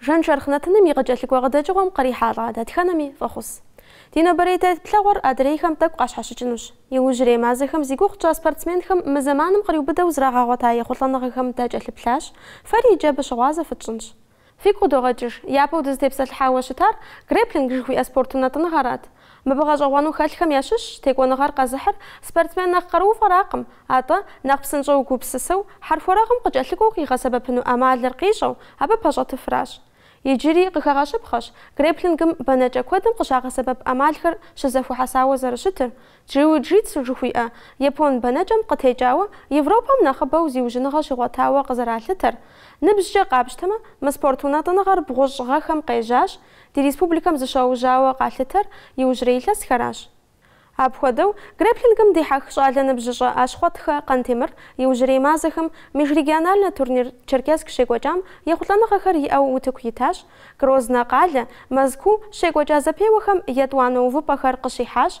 Жэншэрхъ нэтыным и къыкӏэлъыкӏуэ къыдэкӏыгъуэм кърихьэлӏа дэтхэнэми фӏэхъус. Ди нобэрей теплъэгъуэр адрейхэм тӏэкӏу къащхьэщыкӏынущ. Иужьрей мазэхэм зи гугъу тщӏа спортсменхэм мы зэманым къриубыдэу зрагъэгъуэта ехъулӏэныгъэхэм дакӏэлъыплъащ, фэри иджы абы щыгъуазэ фытщӏынщ. Фигу къыдогъэкӏыж, япэу дызытепсэлъыхьауэ щытар грэпплинг жыхуиӏэ спорт унэтӏыныгъэрат. Мыбы гъэщӏэгъуэну хэлъхэм ящыщщ текӏуэныгъэр къэзыхьыр, спортсмен нэхъ къарууфӏэракъым, атӏэ, нэхъ псынщӏэу гупсысэу, хьэрхуэрэгъым къыкӏэлъыкӏуэу къигъэсэбэпыну ӏэмалыр къищӏэу, абы пэщӏэтыфращ. Иджыри къыхэгъэщыпхъэщ грэплингым бэнэкӏэ куэдым къыщагъэсэбэп ӏэмалхэр щызэхуэхьэсауэ зэрыщытыр, джиу-джитсу жыхуиӏэ япон бэнэкӏэм къытекӏауэ Европэм нэхъыбэу зиужьыныгъэ щигъуэтауэ къызэралъытэр. Ныбжькӏэ къапщтэмэ, мы спорт унэтӏыныгъэр бгъущӏ гъэхэм къежьащ, Ди республикэм зыщиужьауэ къалъытэр иужьрей илъэсхэращ. Апхуэдэу, грэплингым дихьэх щӏалэ ныбжьыщӏэ Ащхъуэтхэ Къантемыр иужьрей мазэхэм межрегиональнэ турнир Черкесск щекӏуэкӏам ехъулӏэныгъэхэр иӏэу утыку итащ, Грознэ къалэ, Мэзкуу щекӏуэкӏа зэпеуэхэм етӏуанэ увыпӏэхэр къыщихьащ,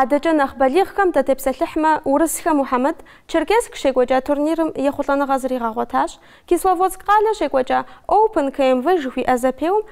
Адэкӏэ нэхъ балигъхэм датепсэлъыхьмэ, Урысхэ Мухьэмэд Черкесск щекӏуэкӏа турнирым ехъулӏэныгъэ зригъэгъуэтащ. Кисловодск къалэ щекӏуэкӏа Оупэн КМВ жыхуиӏэ зэпеуэм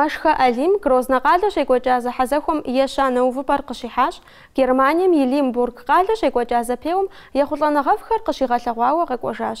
Мэшхэ Алим Грознэ къалэ щекӏуэкӏа зэхьэзэхуэм ещанэ увыпӏэр къыщихьащ, Германием и Лимбург къалэ щекӏуэкӏа зэпеуэм ехъулӏэныгъэфӏхэр къыщигъэлъэгъуауэ къэкӏуэжащ.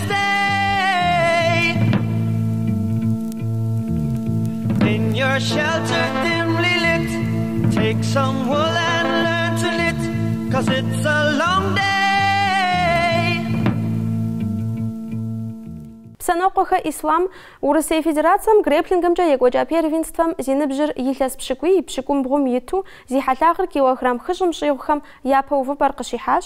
Псэнокъуэхэ Ислам, Урысей Федерацэм грэпплингымкӏэ екӏуэкӏа первенствэм зи ныбжьыр илъэс пщыкӏуий-пщыкӏумбгъум иту зи хьэлъагъыр килограмм хыщӏым щӏигъухэм япэ увыпӏэр къыщихьащ,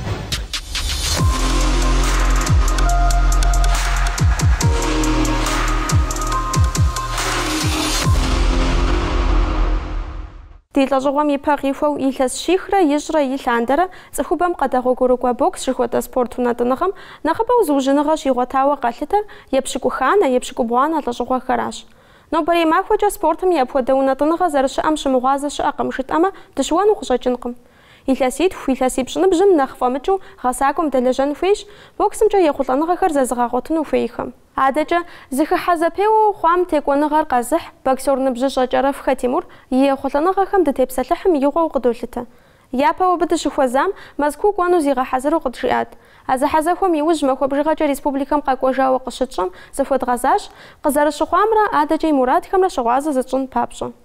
Ди лӏэщӏыгъуэм и пэ къихуэу илъэс щихрэ ищӏрэ и лъандэрэ цӏыхубэм къэдэгъуэгурыкӏуэ бокс жыхуэтӏэ спорт унэтӏыныгъэм нэхъыбэу зыужьыныгъэ щигъуэтауэ къалъытэр епщыкӏуханэ, епщыкӏубгъуанэ лӏэщӏыгъуэхэращ. Нобэрей махуэкӏэ спортым и апхуэдэ унэтӏыныгъэ зэрыщыӏэм щымыгъуазэ щыӏэкъым жытӏэмэ, дыщыуэну къыщӏэкӏынкъым. Илъэситху, илъэсипщӏ ныбжьым нэхъ фӏэмыкӏыу гъэсакӏуэм дэлэжьэн хуейщ, боксымкӏэ ехъулӏэныгъэхэр зэзыгъэгъуэтыну хуейхэм. Адэкӏэ, зыхыхьэ зэпеуэу хъуам текӏуэныгъэр къэзыхь боксер ныбжьыщӏэ Кӏэрэфхэ Тимур и ехъулӏэныгъэхэм дытепсэлъыхьым игъуэу къыдолъытэ. Япэу абы дыщыхуэзам, Мэзкуу кӏуэну зигъэхьэзыру къыджиӏат. А зэхьэзэхуэм и ужь махуэ бжыгъэкӏэ республикэм къэкӏуэжауэ къыщытщӏэм зыхуэдгъэзащ, къызэрыщыхъуамрэ адэкӏэ и мурадхэмрэ щыгъуазэ зытщӏын папщӏэ.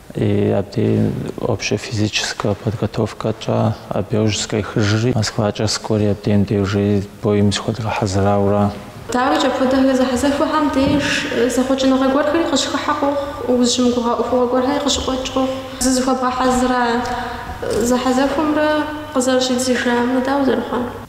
И абдей общэ физическэ подготовкэкӏэ абы иужь сыкъехыжри, Москвакӏэ сыкӏуэри абдей уже боим зыхуэдгъэхьэзырауэра. Дауикӏ, апхуэдэ зэхьэзэхуэхэм деж зэхъуэкӏыныгъэ гуэрхэри къыщыхыхьэ къохъу, узыщымыгугъа ӏуэхугъуэ гуэрхэри къыщыкъуэкӏ къохъу. Зызыхуэбгъэхьэзыра зэхьэзэхуэмрэ къызэрыщӏидзыжамрэ дауэ зэрыхъуар?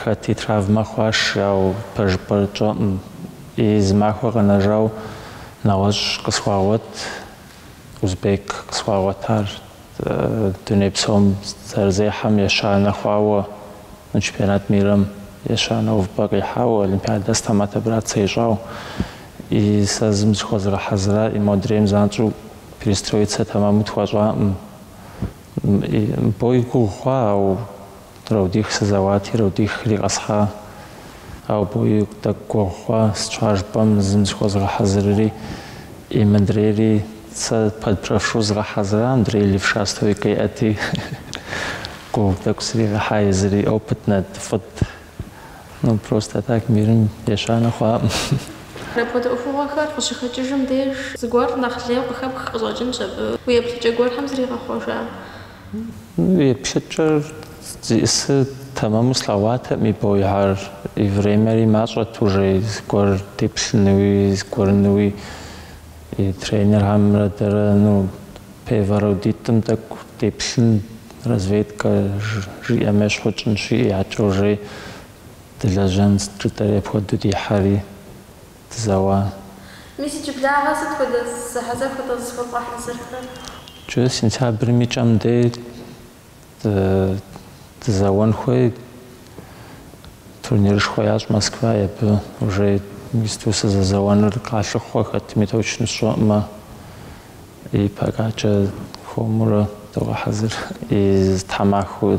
Хэти травмэ хъуащ, ауэ пэжыпӏэр тщӏэӏым. И зы махуэ къэнэжауэ нэгъуэщӏ къысхуагъуэт, узбек къысхуагъуэтар, дуней псом зэрызехьэм ещанэ хъуауэ, чемпионат мирым ещанэ увыпӏэ къихьауэ, олимпиадэ сытым отобрацэ ищӏауэ, и сэ зым зыхуэзгъэхьэзыра и модрейм занщӏэу перестроицэ тэмэму тхуэщӏаӏым. Бой гугъу хъуа, ауэ Раундих сызэуати, раундихри къэсхьа. Ауэ бой тӏэкӏу гугъу хъуа, щхьэ жыпӏэм зым зыхуэзгъэхьэзырри, и мыдрейри сэ под правшу згъэхьэзыра, мыдрей левша стойкэ иӏэти, гугъу тӏэкӏу сригъэхьа езыри, опытнэт, фӏыт. Ну, просто так мирым ещанэ хъуаӏым. Апхуэдэ ӏуэхугъуэхэр къыщыхэкӏыжым деж, зыгуэр нэхъ лейуэ къыхэпх къыщӏэкӏынщ абы уи еплъыкӏэ гуэрхэм зригъэхъуэжа. Еплъыкӏэр зиӏысыр тэмэму слъэгъуатэӏым и боихэр, и времэри мащӏэт уже зыгуэр деплъынуи, зыгуэрынуи. И тренерхэмрэ дэрэ, ну, первэ раундитӏым тӏэкӏу деплъын, разведкэ жиӏэм ещхьу тщӏынщи, иӏэкӏэ уже дылэжьэнщ жытӏэри апхуэдэу дихьэри. Дызэуа. Мис иджыблагъэ сыт хуэдэ зэхьэзэхуэ атӏэ зызыхуэбгъэхьэзырхэр? Джы сентябрым и кӏэм дей дызэуэн хуей, турнирышхуэ ящӏ Москва, и абы уже мисту сызэзэуэныр къалъыхъуэ хэтми точно сщӏэӏымэ, и покакӏэ хуэмурэ догъэхьэзыр, и зы тхьэмахуэ.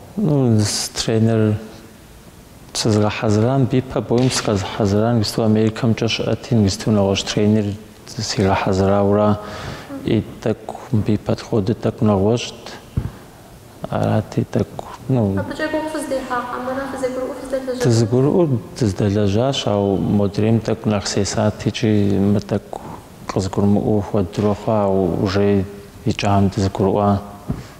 Ну, тренер сызыгъэхьэзырам абы ипэ боим сыкъэзыгъэхьэзырар иджыпсту Америкэмкӏэ щыӏэти, иджыпсту нэгъуэщӏ тренер сигъэхьэзырауэра и тӏэкӏу абы ипэ хуэдэ тӏэкӏу нэгъуэщӏт. Арати, тӏэкӏу, ну. Абыкӏэ гугъу фыздехьа хьэмэрэ фызэгурыӏуэу фыздэлэжьар? Дызыгурыӏуэу дыздэлэжьащ, ауэ модрейм тӏэкӏу нэхъ сесат икӏи мы тӏэкӏу къызыгурымыӏуэу хуэдурэ хъуа, ауэ уже икӏэм дызыгурыӏуа.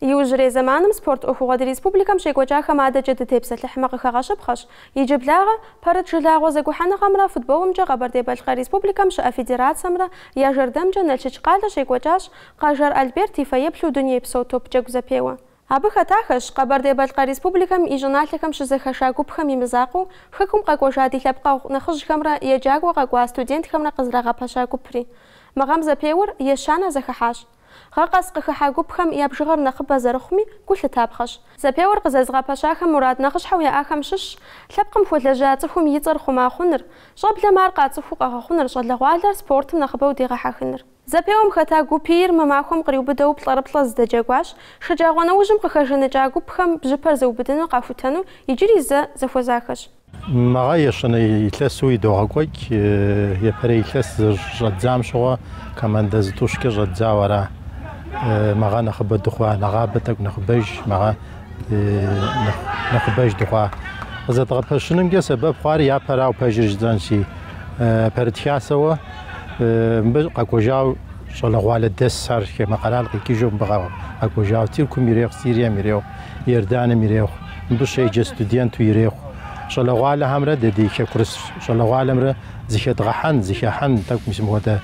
Иужьрей зэманым спорт ӏуэхугъуэ ди республикэм щекӏуэкӏахэм адэкӏэ дытепсэлъыхьмэ къыхэгъэщыпхъэщ. Иджыблагъэ, пэрыт жылагъуэ зэгухьэныгъэмрэ футболымкӏэ Къэбэрдей-Балъкъэр Республикэм щыӏэ федерацэмрэ я жэрдэмкӏэ Налшыч къалэ щекӏуэкӏащ Къэжэр Альберт и фэеплъу дунейпсо топджэгу зэпеуэ. Абы хэтахэщ Къэбэрдей-Балъкъэр Республикэм и щӏыналъэхэм щызэхэша гупхэм и мызакъуэу Хэкум къэкӏуэжа ди лъэпкъэгъу нэхъыжьхэмрэ еджакӏуэ къэкӏуа студентхэмрэ къызэрагъэпэща гупри. Мы гъэм зэпеуэр ещанэ зэхыхьэщ. Гъэ къэс къыхыхьэ гупхэм я бжыгъэр нэхъыбэ зэрыхъуми, гу лъытапхъэщ. Зэпеуэр къызэзыгъэпэщахэм мурад нэхъыщхьэу яӏахэм щыщщ лъэпкъым хуэлэжьа цӏыхум и цӏэр хъума хъуныр, щӏэблэм ар къацӏыхуу къэгъэхъуныр, щӏалэгъуалэр спортым нэхъыбэу дегъэхьэхыныр. Зэпеуэм хэта гупийр мы махуэм къриубыдэу плӏэрыплӏэ зэдэджэгуащ, шэджагъуэ нэужьым къыхэжаныкӏа гупхэм бжьыпэр зыубыдынур къахутэну иджыри зэ зэхуэзахэщ. Мыгъэ ещанэ илъэсу идогъэкӏуэкӏ епэрей илъэс щыщӏэддзам щыгъуэ командэ зытӏущкӏэ щӏэддзауэ ара. Мыгъэ нэхъыбэ дыхъуа нэгъабэ тӏэкӏу нэхъыбэж, мыгъэ нэхъыбэж дыхъуа къызэдгъэпэщынымкӏэ сэбэп хъуар япэрауэ пэжыр жытӏэнщи, пэрыт хасэуэ. мыбы къэкӏуэжауэ щӏалэгъуалэ дэс ар хамэ къэрал къикӏыжу мыбы къэкӏуэжауэ Тыркум ирехъу, Сирием ирехъу, Иорданым ирехъу, мыбы щеджэ студенту ирехъу. Щӏалэгъуалэхэмрэ дэ ди хэкурыс щӏалэгъуалэмрэ зыхедгъэхьэн, зыхехьэн тӏэкӏу мис мыхуэдэ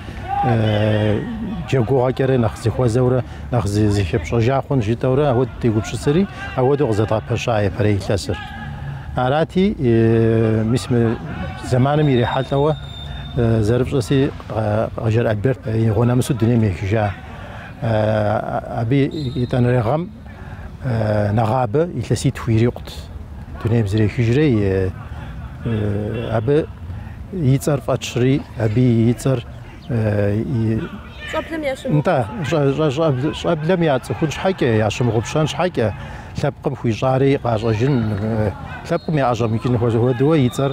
джэгугъэкӏэрэ нэхъ зэхуэзэурэ, нэхъ зыхепщӏэжа хъунщ жытӏэурэ ауэ дытегупсысри, ауэдэу къызэдгъэпэща епэрей илъэсыр. Арати, мис мы зэманым ирихьэлӏэуэ, зэрыпщӏэси Къэжэр Альберт игъуэ нэмысу дунейм ехыжа. Абы етӏанэрей гъэм нэгъабэ илъэситху ирикъут дунейм зэрехыжрей, абы и цӏэр фӏэтщри, абы и цӏэр щӏэблэм ящымыгъупщэн. Нтӏэ, щӏэблэм яцӏыхун щхьэкӏэ, ящымыгъупщэн щхьэкӏэ, лъэпкъым хуищӏари къащӏэжын, лъэпкъым яӏэщӏэмыкӏын хуэдэуэ и цӏэр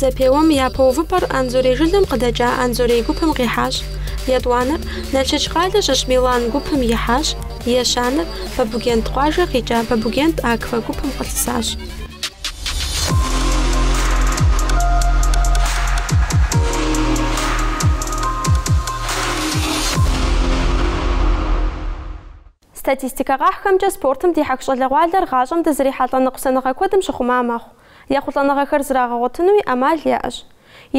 Зэпеуэм япэ увыпӏэр Анзорей жылэм къыдэкӏа Анзорей гупым къихьащ. Етӏуанэр Налшыч къалэ щыщ Милан гупым ихьащ, ещанэр Бабугент къуажэ къикӏа Бабугент Аква гупым къылъысащ. Статистикэ къахьхэмкӏэ, спортым дихьэх щӏалэгъуалэр гъащӏэм дызрихьэлӏэ ныкъусаныгъэ куэдым щыхъума мэхъу. Ехъулӏэныгъэхэр зрагъэгъуэтынуи ӏэмал яӏэщ.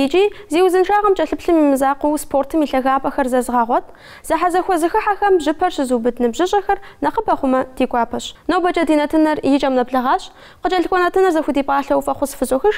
Икӏи, зи узыншагъэм кӏэлъыплъым и мызакъуэу спортым и лъагапӏэхэр зэзыгъэгъуэт, зэхьэзэхуэ зэхыхьэхэм бжьыпэр щызыубыд ныбжьыщӏэхэр нэхъыбэ хъумэ, ди гуапэщ. Нобэкӏэ ди нэтыныр и кӏэм нэблэгъащ, къыкӏэлъыкӏуэ нэтыныр зэхудипӏалъэу фӏэхъус фызохъуэхъуж,